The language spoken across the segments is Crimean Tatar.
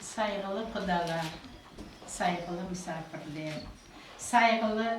Sayğılı qudalar, sayğılı misafirler, sayğılı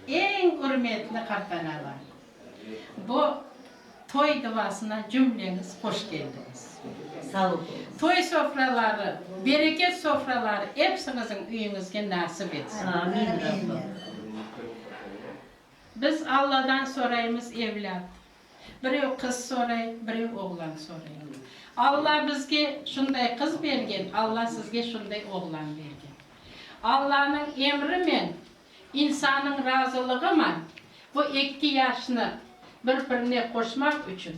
eñ ürmetli qartanalar, bu toy duvasına cümleñiz hoş keldiñiz. Sağ ol. Toy sofraları, bereket sofraları epsiñizin üyiñizge nasip etsin. Amin, Rabbım. Biz Alladan soraymız, evlât. Birev qız soray, birev oğlan soray. Alla bizge şunday qız bergen, Alla sizge şunday oğlan bergen. Allanıñ emrimen, insannıñ razılıgıman bu ekki yaşnı bir-birine qoşmaq içün,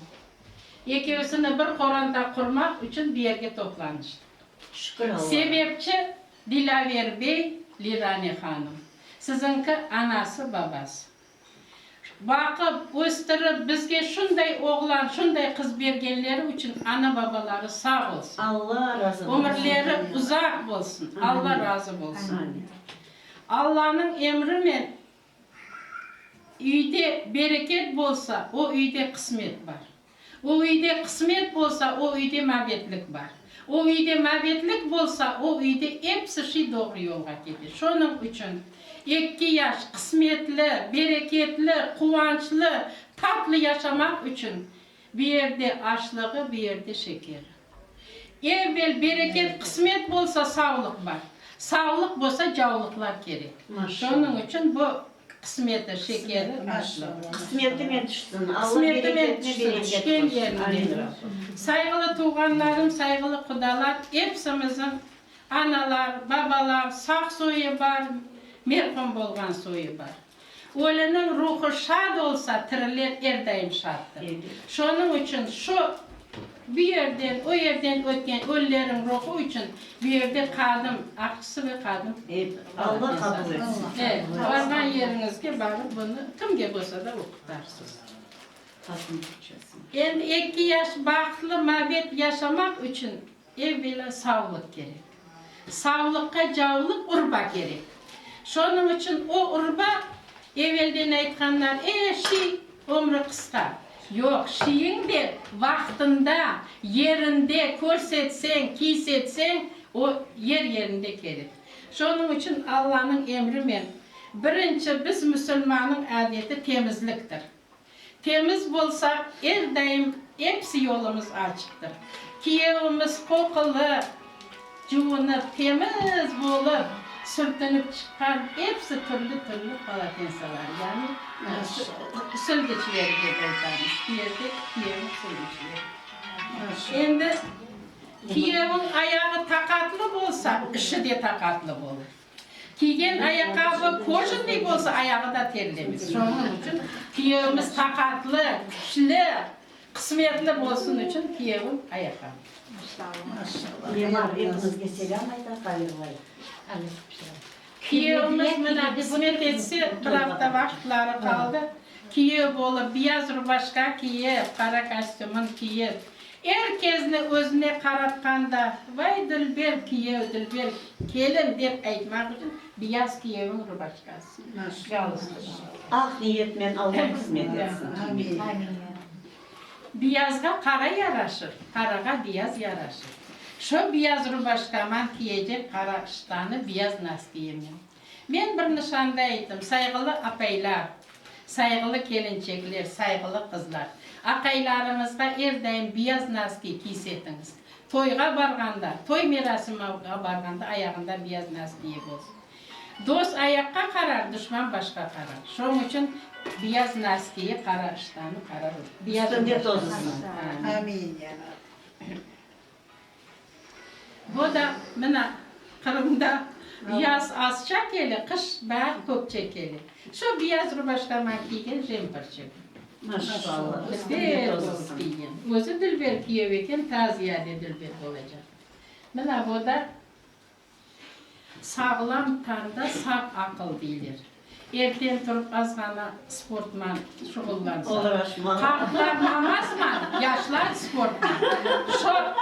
ekevsini bir qoranda qurmaq içün bu yerge toplanıştıq. Sebepçi, Dilâver bey, Lirane hanım, siziñki anası-babası. Baqıp, östürip, bizge şunday oğlan, şunday qız bergenleri içün ana-babaları sağ olsun, ömürleri uzaq bolsun, Alla razı bolsun. Allanıñ emrimen üyde bereket bolsa, o üyde qısmet bar. O üyde qısmet bolsa, o üyde mabetlik bar. O üyde mabetlik bolsa, o üyde episi şey doğru yolğa kete. Şonıñ içün, eki yaş qısmetli, bereketli, quvançlı, tatlı yaşamaq içün, bir yerde, aşlığı, bir yerde, şekeri. Evvel bereket, qısmet bolsa, savlıq bar. Savlıq bolsa, cavlıqlar kerek. Şonıñ içün bu qısmeti, şeker, aşlı. Qısmetimen tüşsün. Qısmetimen tüşsün, tüşken yerinde. Sayğılı tuvğanlarım, sayğılı qudalar, epsimiziñ analar, babalar, sağ soyu bar, merhum bolğan soyu bar. Öliniñ ruhu şad olsa, tiriler er daim şaddır. Şonıñ içün şu bu yerden, o yerden ötken ölüleriñ ruhu içün bu yerde qadım, aqçısı ve qadım, Allah qabul etsin. E, barğan yeriñizge barıp bunı kimge bolsa da oqutarsız. Endi eki yaş, baxıtlı mabet yaşamaq içün Evvela savlıq kerek. Savlıqqa cavlıq urba kerek. Şonıñ içün o urba, evelden aytqanlar, e, şiy, ömrü qısqa. Yoq, şiyiñ de vaqtında, yerinde körsetseñ, kiysetseñ, o yer-yerinde kerek. Şonıñ içün Allanıñ emrimen, birinci biz müsülmannıñ adeti temizliktir. Temiz bolsaq, er daim episi yolumız açıqtır. Kiyevimiz qoqulı, cuvunıp, temiz bolıp, sürtünip çıqqan episi türlü-türlü polatensalar, yani sülgüçleri dep aytamız, kiyevde kiyevniñ sülgüçleri. Endi kiyevniñ ayağı taqatlı bolsa, işi de taqatlı bolır. Kiygen ayaqqabı kojannıy bolsa, ayağı da terlemez. Şonıñ içün kiyevimiz taqatlı, küçlü, qısmetli bolsun içün kiyevim ayaqqabı. Kiyevimiz mına qısmet etse, bir afta vaqıtları qaldı, kiyev olıp, biyaz rubaşka kiyip, qara kostümın kiyip, Er kezni özüne qaratqanda, Vay, dülber kiyev, dülber kelin, dep aytmaq içün biyaz kiyeviñ rubaçkası, galstuk. Ah, niyetmen Alla qısmet etsin, Amin. Biyazğa qara yaraşır, qarağa biyaz yaraşır. Şo biyaz rubaçkaman kiyecek qara ştanı biyaz nastiyemem. Men bir nişanda ettim, sayğılı apaylar, sayğılı kelinçekler, sayğılı qızlar, aqaylarıñızğa er daim biyaz naski kiys etiñiz. Toyğa barğanda, toy merasimıga barğanda ayağında biyaz nas kiyibiz. Dost ayaqqa qarar, duşman başqa qarar. Şoñ içün biyaz nas kiyi, qara iştanı, qara ruh. Biyaz. Üstünde tozısın. Amin. Amin, ya Rab. Bu da, mına, Qırımda yaz azça kele, qış bayağı köpçe kele. Şu biyaz rubaşka mañ kiygen jemperçe bu. Maşallah, Dilber olıp kiygen. Özü Dilber kiyev eken, taziyade Dilber olacaq. Mına, bu da. Sağlam tanda sağ aqıl, deyler. Erten turıp azğana sportman şuğullansa, qartlar namazman, yaşlar sportman. Çoq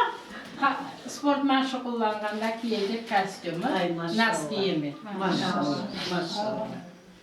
sportman şuğullanğanda kiyecek kostümı, nas kiyemi. Maşallah, maşallah.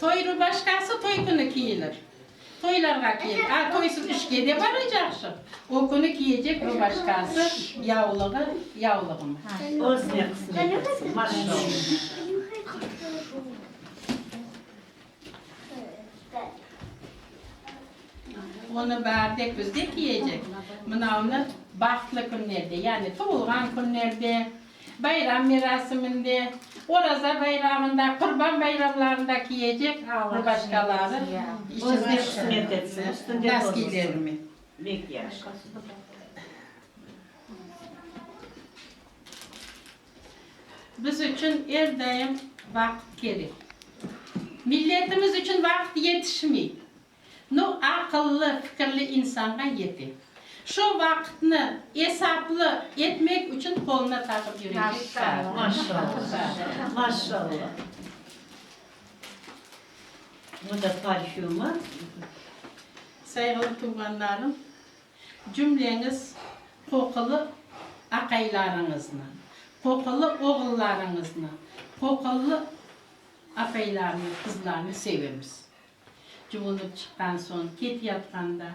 Toy rubaşkası toy künü kiyilir. Toylarğa kiy. A toysız işke de baracaqşıq, o künü kiyecek rubaşkası, yavlığı, yavlığımı. Özüne qısmet etsin. Maşallah. Onı bar dek bizde kiyecek. Mınavnı bahtlı künlerde, yani tuvulğan künlerde, Bayram merasiminde, Oraza bayramında, Qurban bayramlarında kiyecek ve başqaları içinde qısmet etsin naskilerimi. Bek yaşa. Biz içün er daim vaqıt kerek. Milletimiz içün vaqıt yetişmey. No, aqıllı, fikirli insanğa yete. Şu vaqıtnı esaplı etmek içün qoluna taqıp yürecek saat. Maşallah, maşallah. Bu da parfümı. Sayğılı tuvğanlarım, cümleñiz qoqulı aqaylarıñıznı, qoqulı oğullarıñıznı, qoqulı apaylarnı, qızlarnı sevemiz. Cuvunıp çıqqan soñ ketyatqanda,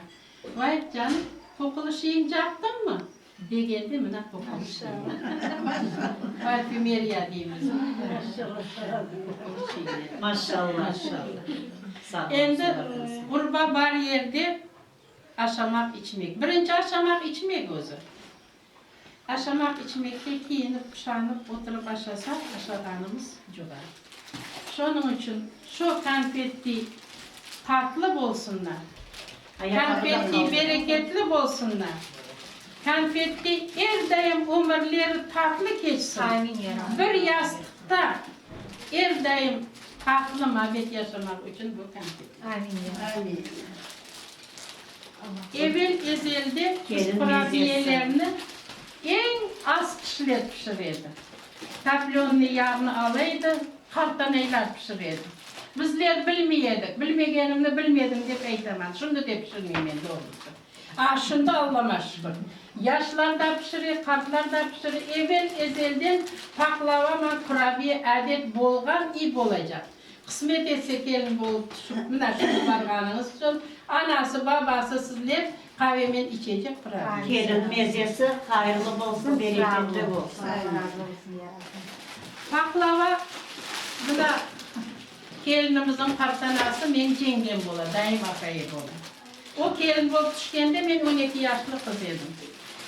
Vay, canım, qoqulışıyıñ captıñmı? Degendi mına qoqulışıñnı. Parfümeriya deymiz qoqulışıñnı. Maşşalla. Endi ğurba bar yerde aşamaq-içmek. Birinci aşamaq-içmek özü. Aşamaq içmekte kiyinip-quşanıp oturıp aşasaq, aşağanımız cuğar. Şonıñ içün şo konfetti tatlı bolsunlar, konfetti bereketli bolsunlar, konfetti er daim ömürleri tatlı keçsin, bir yastıqta er daim tatlı mabet yaşamaq içün bu konfetti. Amin. Evel ezelde kurabiyelerni eñ az kişiler pişir edi. Toplennıy yağnı ala edi, qartanaylar pişir edi. Bizler bilmey edik, bilmegenimni bilmedim dep aytaman, şimdi de pişirmeymen doğrusı. A, şimdi Allama şükür, yaşlar da pişire, qartlar da pişire. Evel ezelden paqlava, kurabiye adet bolğan i bolacaq. Qısmet etse kelin bolıp tüşip, mına şunı barğanıñız içün anası, babası sizler qavemen içecek pırav. Kelin mezesi hayırlı bolsun, bereketli bolsun. Paqlava, mına, kelinimizniñ qartanası, meñ yengem bola, dayım apaye bola. O kelin bolıp tüşkende men on eki yaşlı qız edim.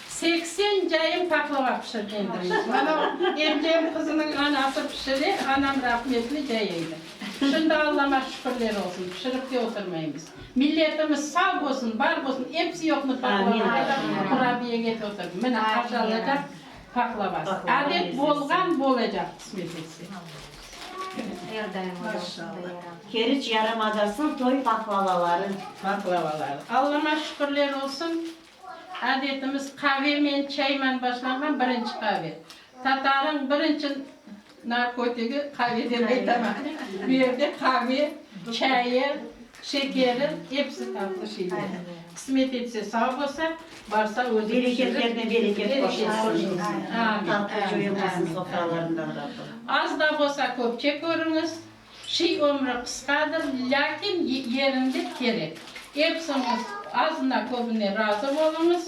Seksen cayım paqlava pişirgendim. Mana Erkem qızınıñ anası pişire, anam rahmetli cay eydi. Şimdi Allama şükürler olsun, pişirip de oturmaymız. Milletimiz sağ bolsun, bar bolsun, episi yoqnı paqlavada da, qurabiyege de oturdı. Mine, aşalacaq paqlavası. Adet bolğan, bolacaq, qısmet etse. Er daim ola şunday yaram. Keriç yarımadasınıñ toy pahlavaları. Pahlavaları. Allama şükürler olsun, adetimiz qavemen, çayman başlanğan birinci qave. Tatarıñ birinci narkotigi qave dep aytaman. Bu yerde qave, çayı, Şekerim, episi tatlı şeyler. Qısmet etse, sağ bolsa, barsa özü pişirip. Bereketlerine bereket qoşulsın. Tatlı coyulmasın sofralarından Rabbim. Az da bolsa köpçe körüñiz, şiy ömrü qısqadır, lâkin yerinde kerek. Epsiñiz azına-köbüne razı oluñız,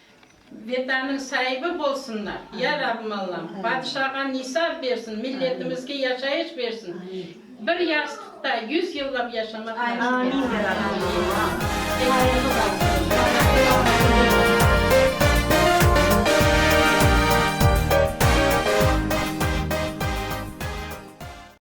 Vetanıñ saibi bolsunlar, ya Rabbim Allam, padişağa nisap bersin, milletimizge yaşayış bersin, bir yastıqta yüz yıllap yaşamaq nasip etsin.